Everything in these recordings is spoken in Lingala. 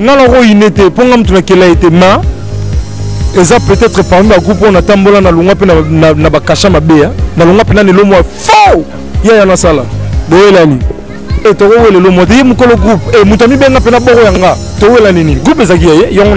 nga nako ine te mpo nga moto nakela ye te ma eza peut-être parmi bagroupe oyo natambola nalongwa mpe na bakasha mabe ya nalongwa mpe nani elomwa fo yaya nasala boyelani e eh, tokowela elomwa te ye mokolo groupe e eh, moto amibenga mpe na boko ya nga towela nini groupe ezalaki ya ye yango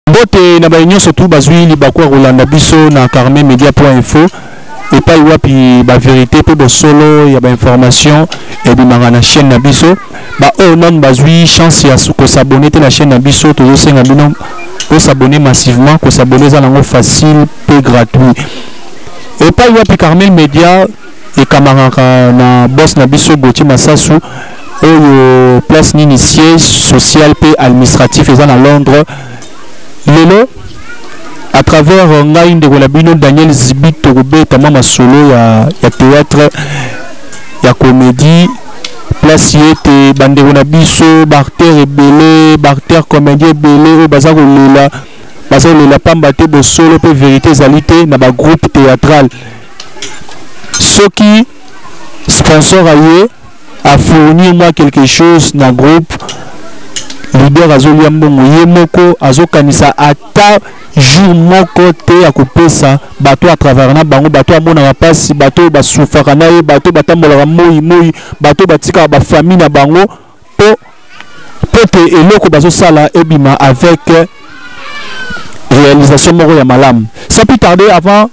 mbote na baye nyonso tu bazwi libaku ya kolanda biso na carnet media point info epai wapi baverité mpe bosolo ya bainformation ebimaka na chaîne na biso baoyo nanu bazwi chance ya kosabone te na chaîne na biso tozosenga bino kosabone massivement kosabone eza nango facile mpe gratuit epai wapi carmel media ekamangaka na boss na biso Gauthier Masasu oyo place nini siège social pe administratif eza na Londres lelo à travers euh, ngai ndeko na bino Daniel Zibi tokobeta mwa masolo ya, ya théâtre ya comédie place ye ete bandeko na biso baacteur ebele baacteur comédien ebele oyo baza kolela baza kolela pamba te bosolo mpe verité ezali te na bagroupe théâtrale soki sponsor aye afournir moi quelque chose na groupe leader azolia mbongo ye moko azokanisa ata jour moko te ya kopesa bato ya travaillaka na bango bato amonaka mpasi bato oyo basufaka na ye bato oyo batambolaka moi moi bato oyo batikaka bafamille na bango po po te eloko bazosala ebima avec réalisation moko ya malamu sans plus tarder avant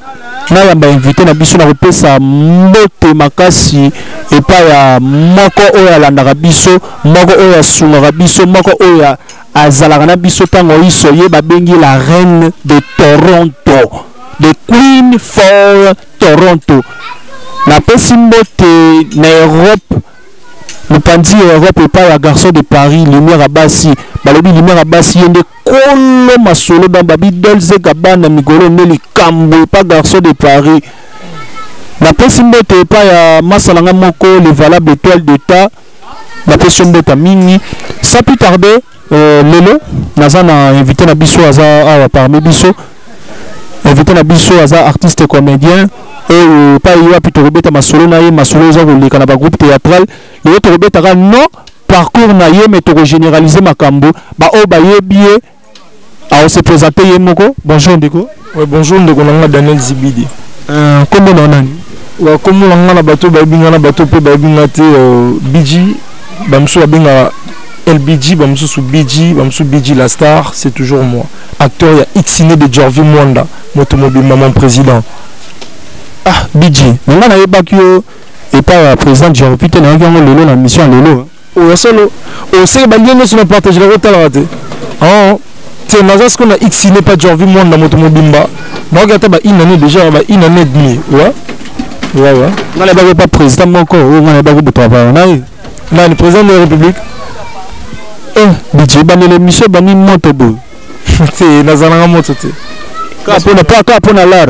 nayamba invité na biso na kopesa mbote makasi epai ya moko oyo alandaka biso moko oyo asungaka biso moko oyo azalaka na biso ntango iso ye babengi la reine de toronto the queen for toronto napesi mbote na europe mopanzi ya europe epai ya garçon de paris lumière ya basi balobi lumière ya basi ye nde kolo masolo dans babi dolze gabana migolo nde likambo epa garçon de paris napesi mbote epai ya masala nga moko le valable étoile d'état napesi yo mbota mingi sans plus tarder Euh, lelo naza na invité na biso aza awa parmi biso invité na biso aza artiste comédien oyo epai wapi tokobeta masolo na ye masolo eza koleka na bagroupe théâtral lelo tokobetaka non parcours na ye me tokogénéralise makambo baoyo bayebi ye Au se présenter ye moko. Bonjour ndeko. Ouais, bonjour ndeko nanga Daniel Zibidi. Euh, comment on nani? Wa komo nanga na bato ba binga na bato pe ba binga te euh, BG ba mso ba binga LBG ba mso su BG ba mso BG la star, c'est toujours moi. Acteur ya Ixine de Jorvi Mwanda, moto mobile maman président. Ah, BG, nanga na yebaki yo et pas président Jorvi te na yango lelo na mission lelo. Oyo ya solo. Oseki ba lien nyoso na partage la kotalaka te. Ah. Te naza siko na X n'est pas Jorvi Mwanda moto mobimba. Na oka ata ba une année déjà ba une année et demie. Ouais. Ouais ouais. Ngala ba pas président moko, ou ngala ba ko buta ba na. Nani président de la République? Eh, budget ba le monsieur ba ni moto bo. Te nazalanga moto te. Ka pona pa ka pona lar.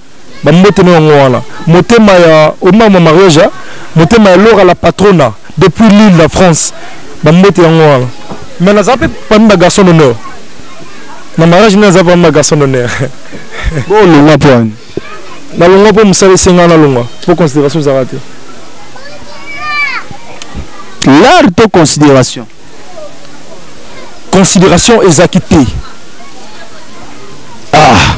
ba mbote na yango wana motema ya omama mariage motema ya lora la patrona depuis l'île la france ba mbote yango wana mais naza mpe parmi ba garçon d'honneur na mariage nde naza parmi ba garçon d'honneur bolonga mpo wani nalonga mpo mosala esenga nalonga mpo considération ezalaka te l'art to considération considération ezaki te ah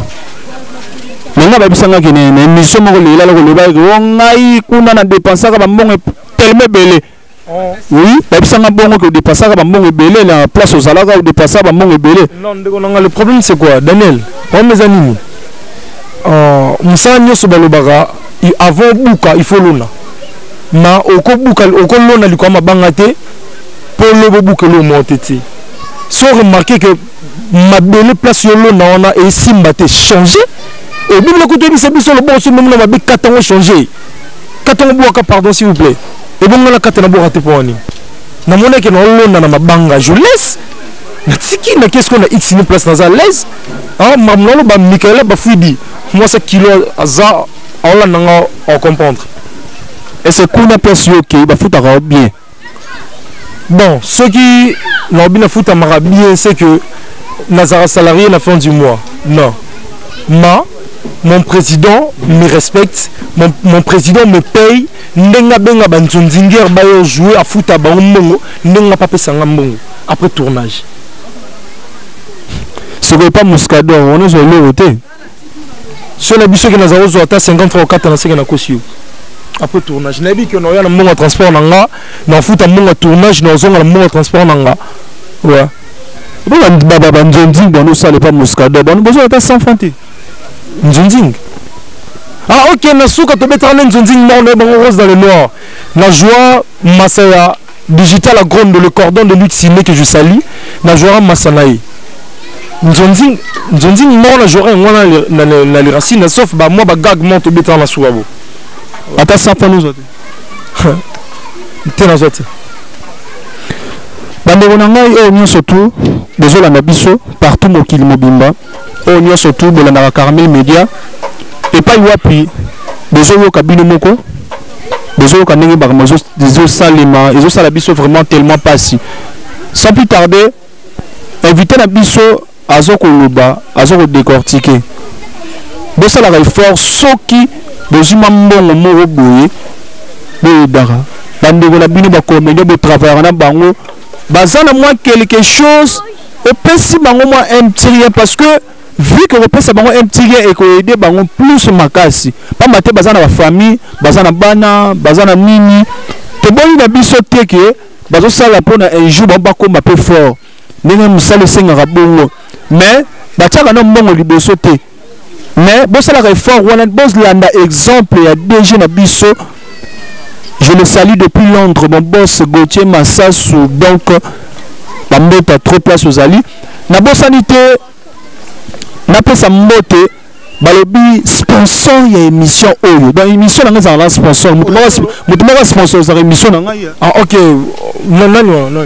nanga babisangaki na émission moko lelela lokolobaki o oh, ngai kuna na dépensaka bambongo telema ebele oui babisanga bongo ke odepasaka bambongo ebele na place ozalaka odepasa bambongo ebele non ndeko nanga le problème c'est quoi daniel problème eza nini euh, mosala nyonso balobaka avant obuka il faut lona ma okobuka okolona likolo ya mabanga te polo bobuka eloko moko te ti so remarke ke mabele place yolona wana esimba te change obibila kutu oyebisa biso loboko so memona mabe kata yango change kata yango bwaka pardon s'il vous plaît ebongo na kata na bwaka te mpo wani namonaki na olona na mabanga je laisse natiki na kesko na x ni place naza laise ah, makambo naloba mikaela bafuidi mwasa kilo aza aolanda nga ocomprendre ese kuna place yo okei bafutaka yo bien bon soki naobi nafutamaka bien c'est que nazalaka salarié na fin du mois non ma mon président me respecte mon, mon président me paye ndenge abenga banzonzinguere bayo joue afuta bango mbongo ndenge apapesa nga mbongo après tournage sikoyo epa muscador wana ozwa eloko te so na biso ke naza kozwa ata 50 franc okata na seke nakosi yo après tournage nayebi ke naoya na mbongo ya transport na nga nafuta mbongo ya tournage naozonga na mbongo ya transport na nga wa banzonzing bwana osala epa moscada bwana bozwa ata 100 franc te nzonzing ah ok na suka tobetaka nde nzonzing moko naye bango rose dans le noir na joie masa ya Digital Agrondo, le cordon de lutte signé que je salue, na Joram Masanae. Nzonzi, nzonzi moko na Joram ngwana na na na les racines, sauf ba moi ba gag monte au béton na soubabo. Ata ça pas nous autres. Te na zote. Bandeko na ngai oyo nyonso tu bozolanda biso partout mokili mobimba oyo nyonso tu bolandaka carmel media epai wapi bozoyoka bino moko bozoyoka ndenge makambo ezosalema ezosala biso vraiment tellement mpasi sans plus tarder invité na biso azo koloba azo kodecortike bosalaka effort soki bozwi mwa mbongo moko boye boyebaka bandeko na bino bakomedio botravaillaka na bango baza na mwa quelque chose opesi bango mwa un petit rien parce que vu que kopesa bango un petit rien ekoyede bango plus makasi mpamba te baza na bafamille baza na bana baza na nini toboni na biso te ke bazosala mpo na un jour bango bakoma mpe fort ndenge mosala esengaka bongo mais batiaka na mbongo liboso te mais bosalaka effort wana bozlanda exemple ya dg na biso je le salue depuis londres mon boss gautier masasu donc bambota trop place ozali nabosani te napesa mbote balobi sponsor ya émission oyo donc émission na ngai ezalaka na sponsor moto moko sponsor ezalaka émission na ngai ah, ok nani wana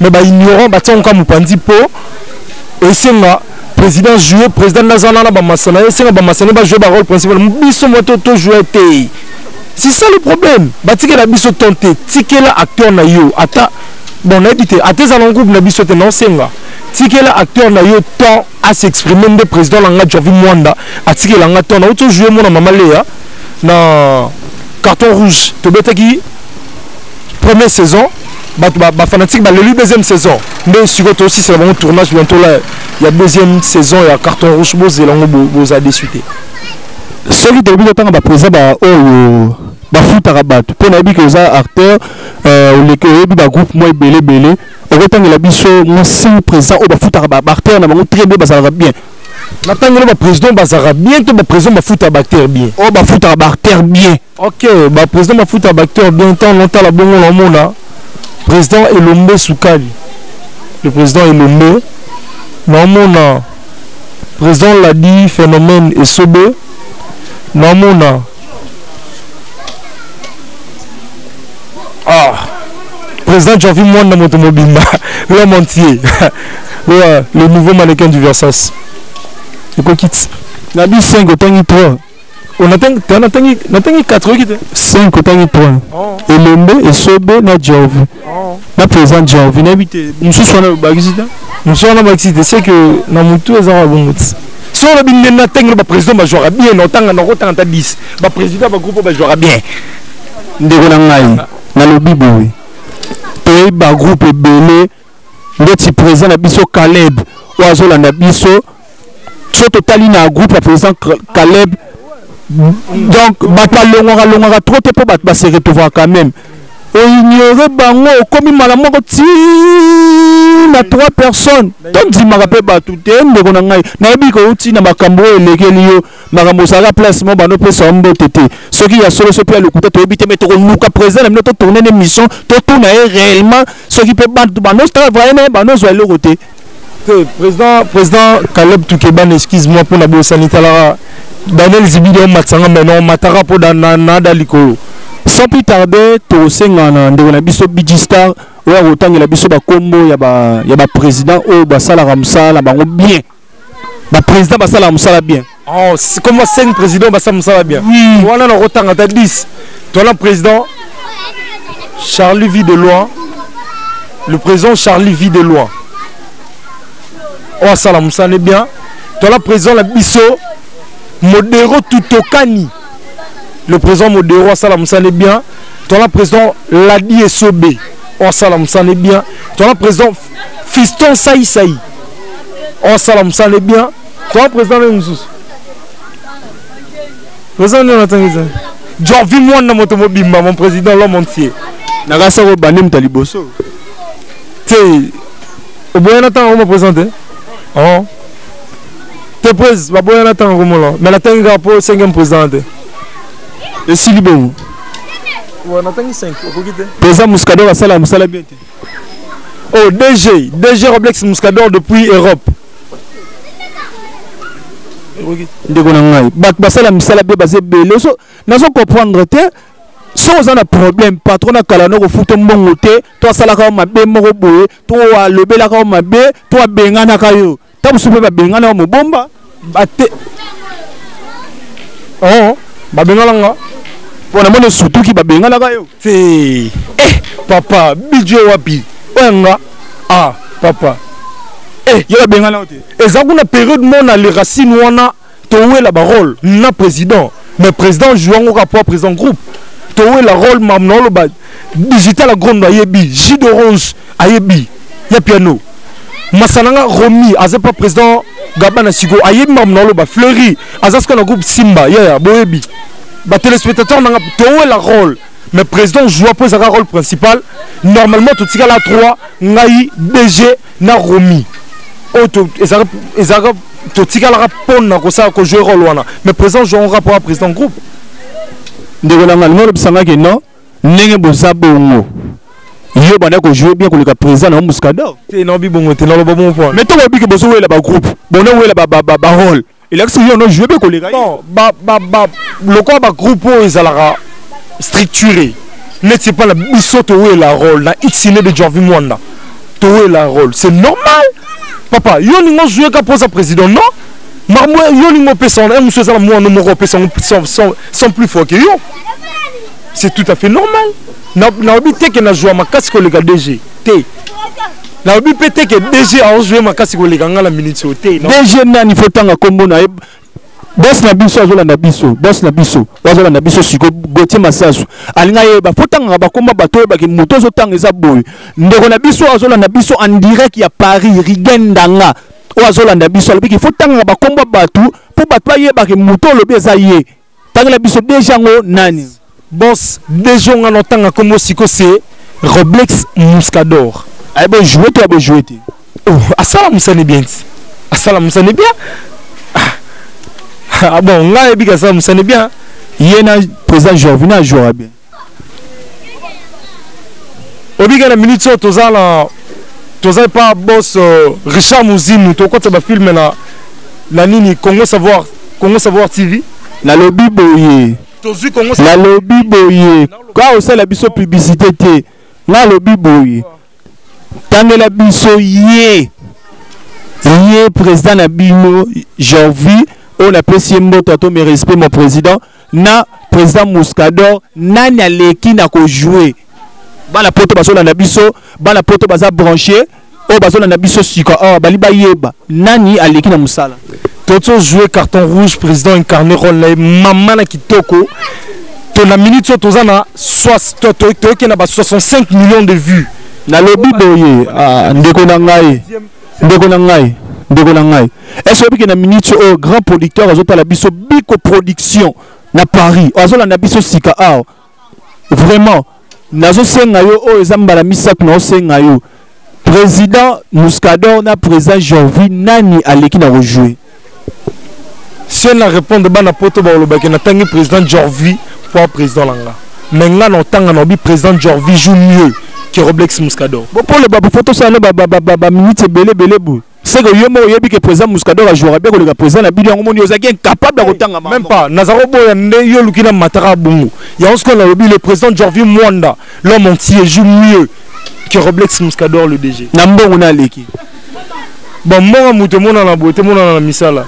mais ba ignorant ba tiango kama panzi po esenga président jouer président nazana na ba masana esenga ba masana ba jouer ba rôle principal biso moto to jouer te c'est ça le problème ba tikela biso tonte tikela acteur na yo ata bon nayebi te ata eza na groupe na biso te naosenga tikela acteur na yo temps à s'exprimer nde président na nga javi mwanda atikela nga temps nauti ojoue mona mama leya na carton rouge tobetaki première saison bato bafanatike ba baleli deuxième saison nde sikoyo tosisela bango tournage bientôt la ya deuxième saison ya carton rouge bozela yango boza desu te soki toyebi totanga bapresa baoyo bafutaka bato mpo nayebi ke oza acteur euh, oleki oyebi bagroupe mwa ebele ebele okotangela biso mwa cinq président oyo bafutaka baacteur na bango très bien bazalaka bien natangeli baprésident bazalaka bien to baprésident bafutaka baacteur bien oyo oh, bafutaka baacteur bien Ok, ba président mafuta ba acteur bien temps longtemps la bongo la mona. Président Elombe Soukali. Le président Elombe na mona président l'a dit phénomène et sobe na mona ah président Javi Mwanda moto mobimba l'homme entier le nouveau mannequin du Versace. Ekokiti. Na bisengo tangi trop. natangi 4 oyoki te 5 otangi 3 elembe esobe na jorvi na président jorvi nayebi te mosusu wana obakisi te mosusu wana obakisi te c'est que na motu eza kaka bongo ti so olobi nde na ntango baprésident bajwaka bien na otanga na okotanga ata 10 baprésident bagroupe oyo bajwaka bien ndeko na ngai nalobi boye toyebi bagroupe ebele ndeti président na biso Caleb oyo azolanda biso so totali na groupe ya président Caleb donc bato balongwaka longwaka trop te mpo bato base retrouvaka quand même oignore bango okomi mala moko ti na trois personnes tondimaka mpe bato te ndeko na ngai nayebi kouti na makambo oyo elekeli yo makambo ozalaka place moko bando opesa yo mbote te soki ya solo soki ya lokuta toyebi te mais tokoluka président na bino totourne na émission totuna ye réellement soki mpe bato bando ozala vraye naye bando ozwa eloko te te président président caleb tukeban excuse moi mpona bosani talaka daniel zibidi omatisanga mai non mataka mpo nada likolo sans plus tarder tosenga na ndeko na biso bigi star oyo akotangela biso bakombo ya baprésident oyo basalaka mosala na bango bien ba président basala musala bien oh comme 5 président basala musala bien oui. wana na kotanga ta 10 tola président Charlie vit de loin le président Charlie vit de loin oyo asala musala ne bien tola président na biso modero tutokani le président modero asala musala ne bien tola président ladi esobe oyo asala musala ne bien tola président fiston saisai osala mosala ne bien toa président nde mosusu président nde natangi te jorvi mwana moto mobimba mon président l'homme entier nakasi yango bande moto ya liboso te oboyana ntango yango moprésent te oh. te prese baboyana ntango yango mola mai natangi kaka mpo cinquième président te esili bongo natangi 5 okoki te président mosikador asala mosala bien te Oh, DG, DG Roblex Muscador depuis Europe. ndeko na ngai bato basala misala mpe baza ebele so nazo comprendre te so oza na problème patron na kala na kofuta mbongo te to asalaka yo mabe moko boye to alobelaka yo mabe to abenganaka yo ta mosusu mpe babengana yo mobomba bate o oh, babengana nga mpo na moni osutuki babenganaka yo te eh papa bidjo wapi oyo nga ah papa eh yo babengana yo te eza kuna periode mona le racine wana towela ba role na président mais président joue yango kaka mpo président groupe towela role mam na oloba digital agrondo ayebi jus d'orange ayebi ya piano masananga romi aza mpa président gabana siko ayebi mam na oloba fleuri aza sikoyo na groupe simba yaya boyebi batelespectateur nanga towela role mais président joua mpo ezalaka role principal normalement totikala 3 ngai dg na romi oyo ezalaka totikalaka mpona kosala kojouer role wana mais président joan rapport ya président groupe ndeko na ngai nalobisangaki non ndenge boza bongo yo banda kojoue bien koleka président na yo muscador te naobi bongo te naloba bongo mpo mais to bobiki bozowela bagroupe bonowela barole elakisi yo no joue mpe koleka non lokola bagroupe oyo ezalaka structuré neti epai na biso towela role na xine de janvi mwanda towela role c'est normal papa yo olingi ozwi eka mpo oza président non makambo yo olingi opesa wana mosu eza na mwana moko opesa yango sans plus fort ke yo c'est tout à fait normal nayebi te ke nazwa makasi koleka dg te nalobi mpe te ke dg aozwa ye makasi koleka ngai na minute oyo te dg nani fo ntanga nkombo na ye bos na biso azolanda biso bos na biso azolanda biso siko gotie masasu alinga yeba fo ntangaka bakoma bato oyebaki moto ozotanga eza boye ndeko na biso azolanda biso en direct ya paris rigen ndanga oyo azolanda biso alobiki fo ntangaka bakombo bato mpo bato bayebaki moto olobi eza ye tangela biso deja yango nani boss deja nga na otanga nkombo siko se roblex muscador aye bojoue to ya bojoue te oh, asala mosani bien ti asala mosani bien ah, ah bon nga ayebi ke asala mosani bien ye na président jorvina ajouera bien obika na minute oyo toza na toza epa bos euh, richard muzimu tokokota bafilme na na nini congo savoir congo savoir tv nalobi boye nalobi boye ka osala biso publicité te nalobi boye tangela biso ye ye président na bino jorvi oyo napesi ye mboto ato merespect mon président na président Muscador nani aleki na ko jouer bana poto bazolanda biso bana poto baza branche oyo bazolanda biso sika awa oh, bali bayeba nani aleki na mosala tozo jouer carton rouge président incarné role na ye mama na kitoko to na minute oyo toza na toyokenda ba 65 millions de vues nalobi boye ah, ndeko na ngai ndeko na ngai ndeko na ngai ese oyebike na minute oyo grand producteur azotala biso biko production na paris azolanda biso sika awa vraiment nazosenga yo oyo eza mbala misato naosenga yo président muscador na président jorvi nani aleki na kojoue se na répondre bana poto bakolobaki natangi président jorvi mpo a président na nga mais nga na otanga na obi président jorvi joue mieux que roblex muscador bokoloba bofo tosala no baminute ebele ebele boye seke yo moko oyebi ke président muscador ajouaka bien koleka président na bino yango moni ozalaki incapable ya kotanga même pas naza koboya nde yo oluki na mataka ya bongo yango sikoyo nalobi le président jorvi mwanda l'homme entier joue mieux que roblex muscador le dg na mbongo na aleki Ba mbongo mutu emonana boye te monana na misala.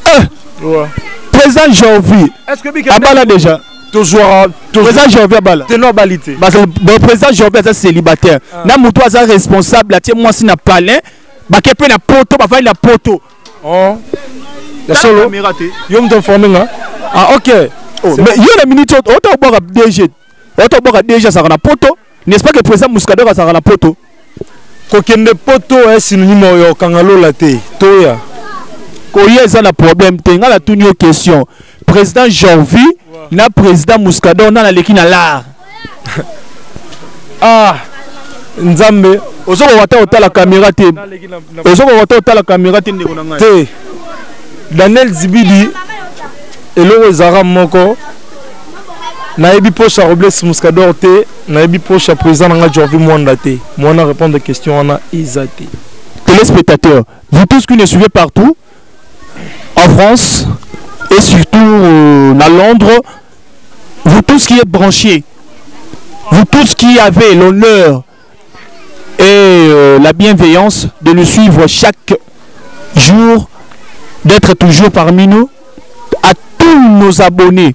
Eh! Ouais. Président Jorvi. Est-ce que Bika Abala déjà tozwaka président jorvi abala te no abali te président jorvi aza célibataire ah. na moto aza responsable atie mwasi na palin bake mpe na poto bafandi na poto oh. ya solo yo moto informe nga ah ok oh, yo na minute oyo otobwaka dg otobwaka dg azalaka na poto n'est-ce pas que président Muscador azalaka na poto kokende poto ya synonyme oyo okanga lola te toya koya eza na problème te ngai natuni yo question président jorvi ouais. na président muscador nani aleki na lar ah nzambe ozokoka ta otala kamera te ozokoka ta otala kamera te ndeko na ngai te daniel zibidi eloko ezalaka moko nayebi poche ya robles muscador te nayebi poche ya président na ngai jorvi mwanda te mwana répondre question wana eza te téléspectateurs vous tous qui ne suivez partout en france et surtout euh, à londres vous tous qui êtes branchés vous tous qui avez l'honneur et euh, la bienveillance de nous suivre chaque jour, d'être toujours parmi nous, à tous nos abonnés.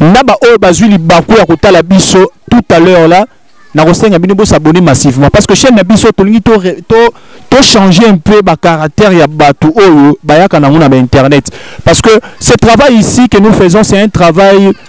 Naba oyo bazui libaku ya kotala biso tout à l'heure là, na kosenga bino bo s'abonner massivement parce que chaîne na biso tolingi to to to changer un peu ba caractère ya batu oyo bayaka na nguna ba internet parce que ce travail ici que nous faisons c'est un travail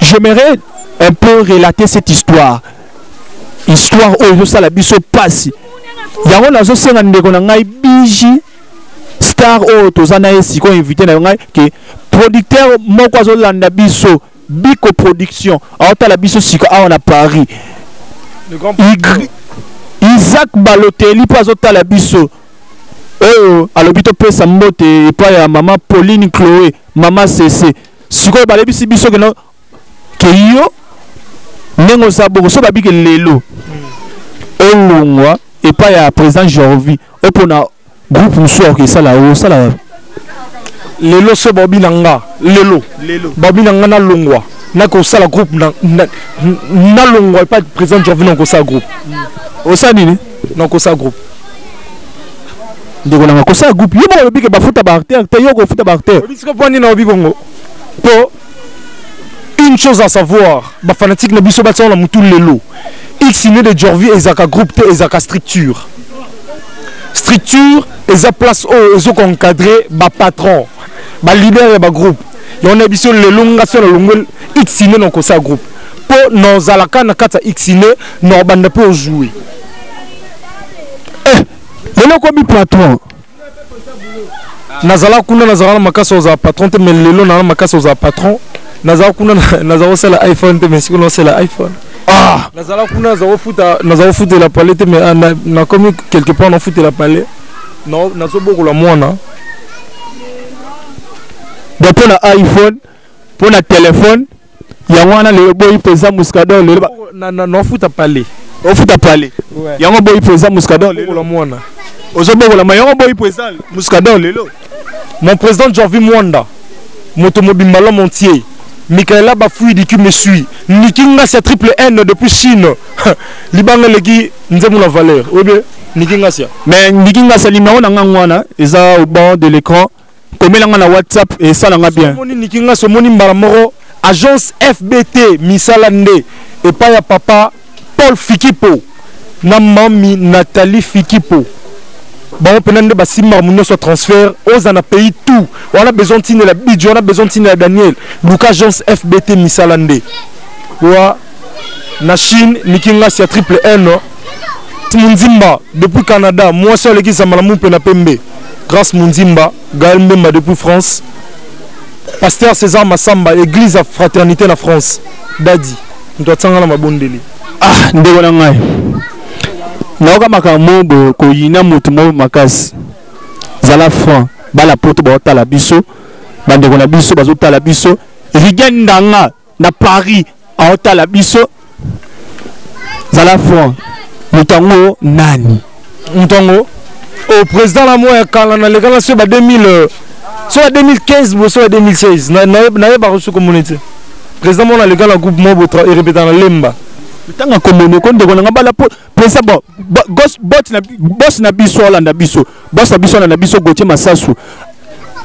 j'aimerais un peu relater cette histoire histoire oyo ezosala biso mpasi yango nazosenga ndeko na ngai biji star oyo toza na ye sikoyo invité na yo ngai ke producteur moko azolanda biso biko production aotala biso siko awa na paris isaac baloteli mpo azotala biso oyo alobi topesa mbote epai ya mama pauline chloe mama sese sikoyo balebisi biso keno ke yo ndenge oza bongo so babike lelo olongwa epai ya président jorvi opona groupe mosusu akoki esala osala wapi lelo so baobi na nga lelo baobi na nga nalongwa nakosala groupe nalongwa epai président jorvi nakosala groupe osala nini Non, kosa groupe. Ndeko nanga kosa groupe. Yo moko lobi ke bafuta ba acteur te yo ko futa ba acteur. Obi siko poni na obi bongo. Po une chose à savoir, ba fanatique na biso ba tsona mutu lelo. X né de Jorvi ezaka groupe te ezaka structure. Structure eza place oyo ezo ko encadrer ba patron, ba leader ya ba groupe. Yo na biso lelo nga sona longwe X né na kosa groupe. Po nozalaka na kata X né non banda mpe ozue eh, lelo okomi patron nazala kuna nazala na makasi ozala patron te mais lelo naa na makasi ozala patron nazala kuna nazala kosala iphone te mais sikuna osala iphone ah! nazala kuna nazala kofuta nazala kofutela pale te mais ah, nakomi quelque part nafutela pale nazobokola mwana mpo na iphone mpo na telefone yango wana lelo boyi mpenza muscador lelo nafuta pale ofuta pale yango boyi mpenza muscador lelo mwana ozobokolama yango boyi mpenza muscador lelo mon président jorvi mwanda moto mobimba l'homme entier mikaela bafui diki mesui niki ngasi ya triple n depuis chine libanga eleki nzembo na valeur oyebi niki ngasia mais niki ngasia limero na ngango wana eza au bord de l'écran komela nga na whatsapp esala nga bien omoni niki nga somoni mbala moko agence fbt misala nde epai ya papa paul fikipo na mami nathalie fikipo bango mpena nde basimba makambo nyonso ya transfert oza na pays tout wana besoin ntinela bidjo wana besoin ntinela daniel luka agence fbt misala nde wa na chine niki ngasi ya triple n munzimba depuis canada mwasi aleki zambala mumpe na pembe grace munzimba gael mbemba depuis france pasteur césar masamba église ya fraternité na france dadi moto atanga na mabondeli ah ndeko na ngai nayoka makambo boye koyina motu moko makasi zala franc bala poto baotala biso bandeko na biso bazotala biso rigen ndanga na paris aotala biso zala franc moto yango nani moto yango o président na moi ya kala nalekana so ba 2000 so ba 2015 bo so ba 2016 nayebaka so komona te président mona aleka na groupe moko erepeta na lemba ntango akomonoko ndeko na ngai bala pesa bo bot na boss na biso olanda biso boss na biso olanda biso Gauthier Masasu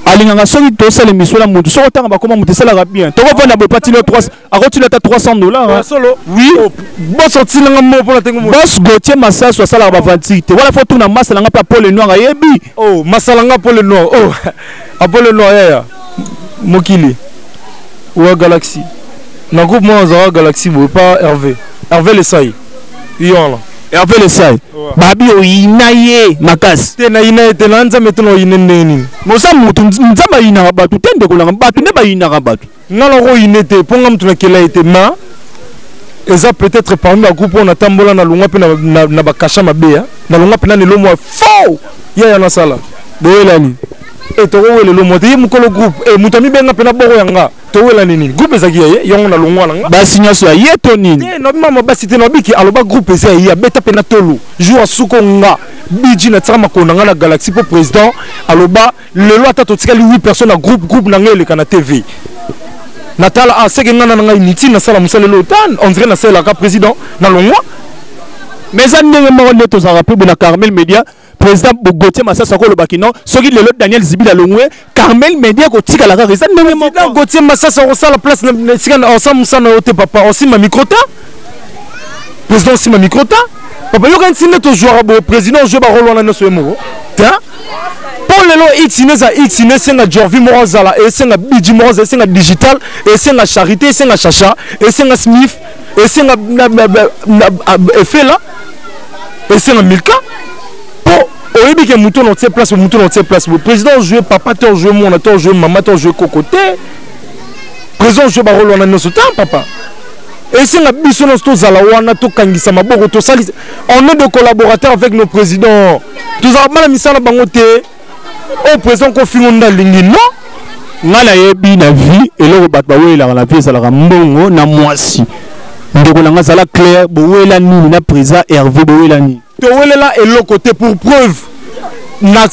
alingaka soki tosala emission na motu soki otanga bakoma motu esalaka bien tokovanda boye patilo 3 akotilo ata 300 dollars solo oui oh, boss otilanga mo mpona tenge mo boss Gauthier Masasu asalaka bavanti te wana fo tuna masala nga mpe apole noir ayebi oh masala nga apole noir oh apole noir yaya mokili oya galaxie na groupe mwana azalaka galaxie boye pa herve herve lesai yolo Hervé Lesai babi oyina ye makasi te nayina ye te na nzambe te na oyine ndenge nini moza motu nzambe ayinaka bato te ndeko nanga bato nde bayinaka bato nga nako oyine te mpo nga motu nakela ye te ma eza peut-être parmi bagroupe oyo natambola nalongwa mpe na bakasha mabe nalongwa mpe na lelo mwa fo yaya nasala boyelani e eh, tokowelelo mwa te ye mokolo groupe e eh, moto amibenga mpe na boko ya nga towelani nini groupe ezalaki ya ye yango na longwa na nga basi nyonso ya ye to nini te na bimama basi te na biki aloba groupe eza ya ye abeta mpe na tolo jour asuko nga biji na tika makolo na nga na galaxie mpo président aloba lelo ata totikali 8 personnes na groupe groupe na nga eleka na tv natala ah, seke nga na na nga inutile nasala mosala lelo tan on dirait nasalelaka président na longwa mais eza ndenge moko nde tozalaka mpe na carmel media président Gauthier Massas akoloba kino soki lelo Daniel Zibila longwe Carmel Media kotikala kaka eza ndenge moko président Gauthier Massas akosala place na esika na osala mosala yo te papa osima micro ta président osima micro ta papa yokanisi nde tozwaka boye président ozwe barole wana nyonso ye moko te mpo lelo itine eza itine esenga jorvi moko azala esenga biji moko azala esenga digital esenga charité esenga chacha esenga smith esenga efela esenga milka mpo oyebi ke moto na otie place moto na otie place président ojoue papa te ojoue mwana te ojoue mama te ojoue koko te président ojoue barole wana nyonso te papa esenga biso nyonso tozala wana tokangisa maboko tosalisa on est de collaborateur avec nos présidents tozalaka bana misala bango te oyo président kofingo nde alingi non ngai nayebi na vie eloko bato bawelelaka na vie ezalaka mbongo na mwasi ndeko na ngai azala claire bowela nini na président herve bowela nini towelela eloko te pour preuve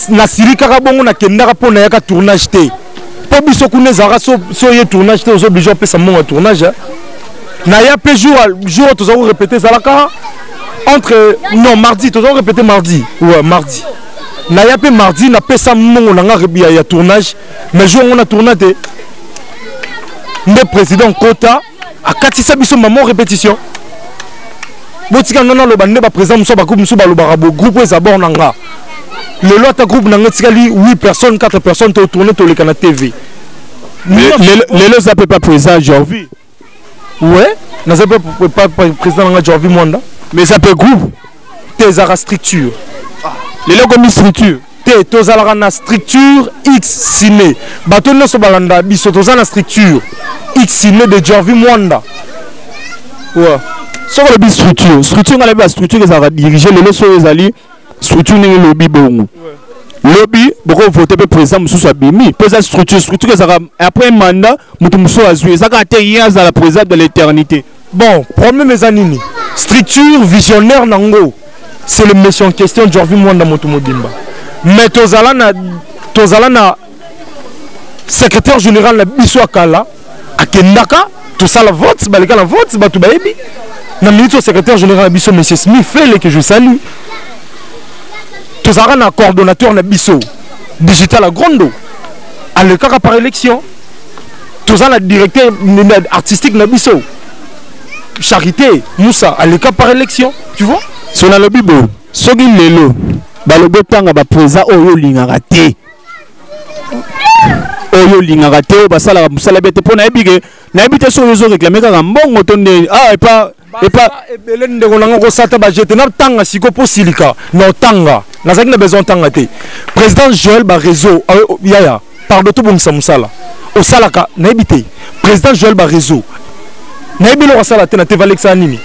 nasilikaka bongo nakendaka mpo nayaka tournage te mpo biso kuna ezalaka so ye tournage te ozo oblige opesa mbongo ya tournage naya mpe jour oyo toza korepete ezalaka entre non mardi toza korepete mardi ouais mardi na ya pe mardi na pesa mongo na nga ya, ya tournage mais jour ngona tourna te nde président kota akatisa biso maman répétition botika nga naloba nde baprésident mosusu bagroupe mosusu balobaka bo groupe eza bor na nga lelo ata groupe na nga etikali 8 personnes 4 personnes totourne toleka na tv lelo eza mpe pa président jorvi Ouais, naza pe pas président nanga Jorvi Mwanda. Mais ça peut groupe. T'es la structure. Les locaux comme structure. T'es tozalaka na structure X ciné. Bato nyoso balanda biso toza na structure X ciné de Jorvi Mwanda. Ouais. Soko le structure, structure ngala ba structure ezalaka diriger lelo so ezali structure ndenge lobi bongo lobi bokovote mpe président mosusu abimi mpo eza structure structure ezaka après un mandat moto mosusu azwi eza kaka te ye azala président de l'éternité bon problème eza nini structure visionnaire na ngo c'est le monsieur en question jorvi mwanda moto mobimba mais tozala na tozala na secrétaire général na biso ya kala akendaka tosala vote baleka na vote bato bayebi na minute oyo secrétaire général na biso monsieur smith fele que je salue tozalaka na coordonnateur na biso digital agrondo alekaka par élection toza na directeur artistique na biso charité moussa aleka par élection tu vois so nalobi boye soki lelo balobi otanga bapreza oyo olingaka te oyo olingaka te oyo basalaka mosala bete mpo nayebi ke nayebi te soki ozo reklame kaka mbongo to nde ah, epa epa ebele ndeko nanga kosata bajete natanga siko mpo silika na otanga nazalaki na besoin otanga te président joel bareseau ah, oh, yaya pardon tobongisa mosala osalaka nayebi te président joel bareseau nayebi eloko asala te na tevalekisaka nini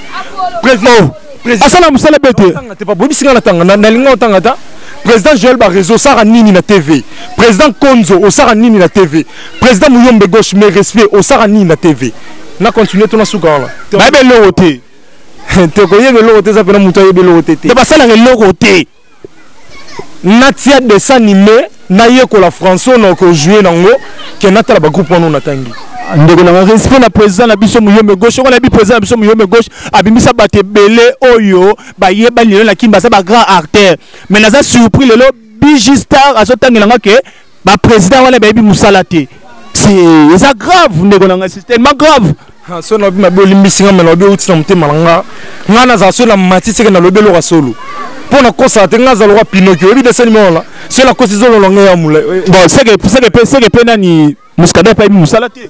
président oh, asala mosala be te boyebisi ngai natanga nalinga otanga ata président joel barezo osaka nini na tv président konzo osaka nini na tv président muyombe gauche mais respect osaka nini na tv na continue to nasuka wana bayebi eloko te te koyeba eloko te eza mpena moto ayebi eloko te te basalaka eloko te natia dessin anime nayekola français oyo nakojoue nango ke natala bagroupe wana oyo natangi ndeko na respect na président na biso muyombe gauche okola bi président na biso muyombe gauche abimisa bato ebele oyo bayeba lelo na kin baza ba grand artère mais naza surpris lelo bg star azotangela nga ke ba président wana bayebi musala te c'est ça grave ndeko na ngai c'est tellement grave ah, so nalobi mabe olimbisi nga me nalobi outi na motema na nga ngai nazala so na mati seke nalobi eloka solo mpo nakosaka te ngai azaloka pinoki oyebi desani mona so nakosi zololonge ya molai eh, eh. bon seke mpe nani muscadin mpe ayebi mosala te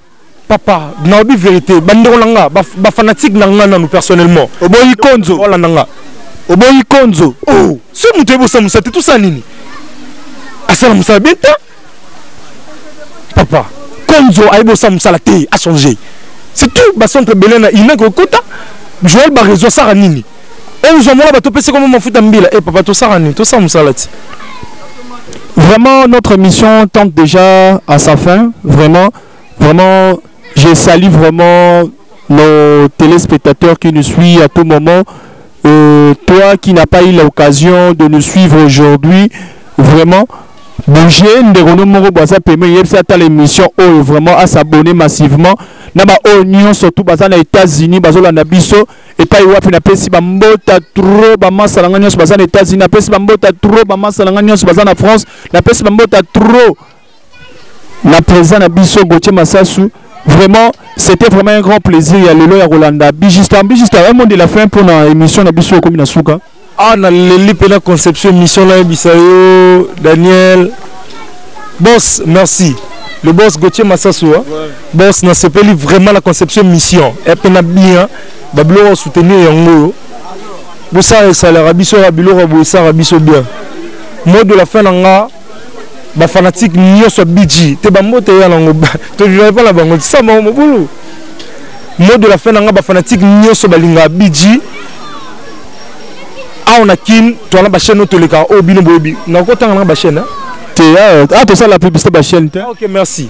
papa naobi verité bandeko na nga bafanatique na nga nanu personnellement oboyi konzo olanda nga oboyi konzo o oh, so moto yebosa mosala te tosala nini asala mosala bien te papa konzo ayebosa mosala te achange c'est tout bacentre ebele na ina kokota joel barezo asala nini ozwa mwana bato opesi kombo mafuta mbila e eh, papa tosaka nini tosala mosala ti vraiment notre mission tente déjà à sa fin vraiment vraiment je salue vraiment nos téléspectateurs qui nous suivent à tout moment euh, toi qui n'as pas eu l'occasion de nous suivre aujourd'hui vraiment bouge ndeko no moko boza peme yebisa ata l'émission oyo vraiment à s'abonner massivement na baoyo nyonso tu baza na états-unis bazolanda biso epai wapi napesi bambota tro bamasa na ngai nyonso baza na états-unis napesi bambota tro bamasa na ngai nyonso baza na france napesi bambota tro na président na biso gautier masasu vraiment c'était vraiment un grand plaisir ya lelo ya kolanda bijista bijista un mot de la fin mpona émission na biso ekomi na suka Ah, na leli pena conception mission na yebisa yo Daniel. Boss, merci. Le boss Gauthier Massassou. Hein? Ouais. Boss, na sepeli vraiment la conception mission. Et pena bien, bablo soutenir yango. Bossa et salaire biso ya biloko bossa biso bien. Mot de la fin nanga ba fanatique nioso bidji te ba mbote ya nango to vivrai pas la bango ça ma mobulu mot de la fin nanga ba fanatique nioso balinga bidji awa na kin toana ba chaîne toleka o bino boyebi na ko tanga na ba chaîne te ah, ah to sala publicité ba chaîne te ah, OK merci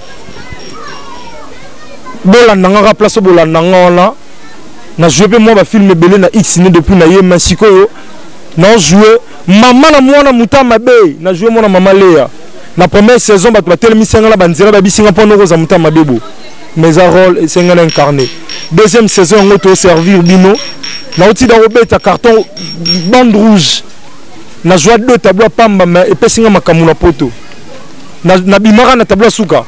bolanda nga ka place bolanda nga wana na joue pe moi ba film ebele na X ne depuis na ye mais sikoyo na joue Maman na muana muta mabe na jouer mwana maman Lea na première saison bato batelemisi nga na banzela babisi nga mpo noko oza muta mabe bo mais a role esenga na incarne deuxième saison yango to servir bino na otida kobeta carton bande rouge na joie deux tableau pamba mais epesi nga makambo na poto na, na bimaka na tableau suka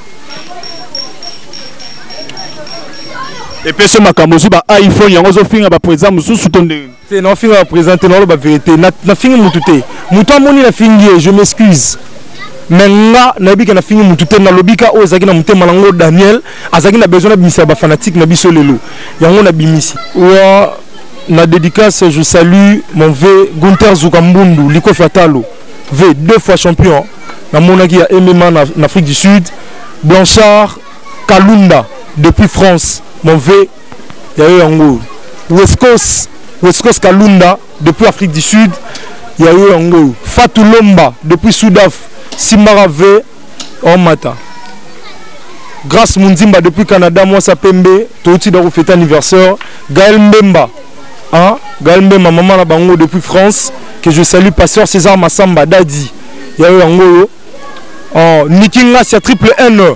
epesi makambo ozwi ba iphone yango ozofinga bapreza mosusu to ndenge te naofinga ba président te naoloba vérité nafingi mutu te mutu amoni nafingi ye je m'excuse me nga nayebi ke nafingi mutu te nalobi ka oyo ezalaki na motema na ngo daniel azalaki na besoin nabimisa bafanatike na biso lelo yango nabimisi wa na dédicace je salue mon v gunter zuka mbundu likofi atalo v deux fois champion namonaki ya mma na, na afrique du sud blanchard kalunda depuis france mon v ya yo yango west coast west coast kalunda depuis afrique du sud ya yo yango oyo fatu lomba depuis sudaf simbaka ve omata grace munzimba depuis canada mwasa pembe touti da kofete anniversaire gael mbemba hein? gael mbemba mama na bango depuis france que je salue pasteur césar massamba dadi ya yo yango oyo oh, niki ngasi ya triple n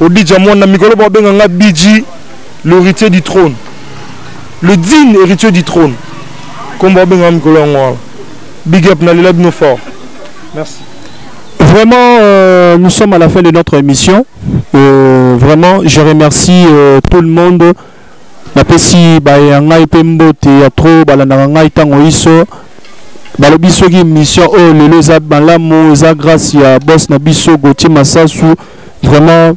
Odija mwana mikolo ba benga nga Biji l'héritier du trône. Le digne héritier du trône. Comme ba benga mikolo yango wana. Big up na lela bino fort. Merci. Vraiment, euh, nous sommes à la fin de notre émission. Euh, vraiment, je remercie euh, tout le monde. napesi baye ya ngai mpe mbote ya tro balandaka ngai ntango iso balobi soki émission oyo lelo eza malamu eza grâce ya boss na biso gautier masasu vraiment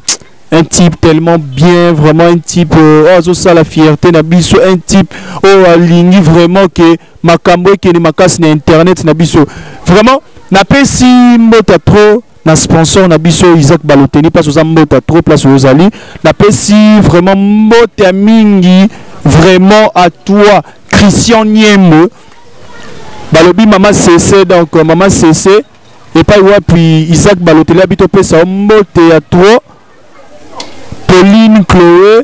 un type tellement bien vraiment un type euh, oyo azosala fierté na biso un type oyo alingi vraiment ke makambo ekende makasi na internet na biso vraiment napesi mbota trop na sponsor na biso Isaac Balotelli place oza mbota trop place ozali napesi vraiment mbota mingi vraiment à toi Christian Niembo balobi mama sese donc euh, mama sese epai wapi Isaac Balotelli abi topesa yo mbote ya trop Pauline Chloé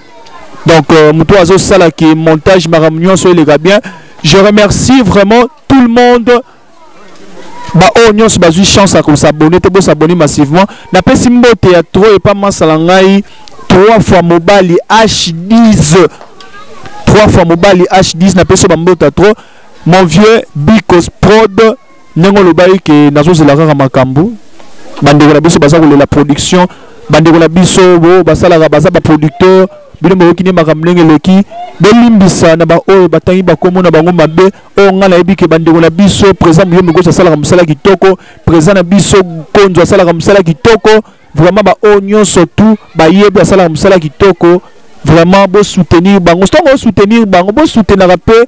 donc euh, moto azo sala ki montage makambo nyonso eleka bien je remercie vraiment tout le monde baoyo oh, nyonso bazwi chance ya kosabone te bosabone massivement napesi mbote ya tro epa masala ngai trois fois mobali h10 trois fois mobali h10 napesi yo bambota trop mon vieux bicos prod ndenge olobaki ke nazozela kaka makambo bandeko na biso baza kolela production bandeko na biso bo basalaka baza baproducteur bino boyoki nde makambo ndenge eleki bolimbisa na baoyo batangi bakomo na bango mabe oyo ngai nayebi ke bandeko na biso président moyo mikosi asalaka mosala kitoko président na biso konzo asalaka mosala kitoko vraiment baoyo nyonso tu bayebi asalaka mosala kitoko vraiment bosoutenir bango ntango osoutenir bango bosoutenaka mpe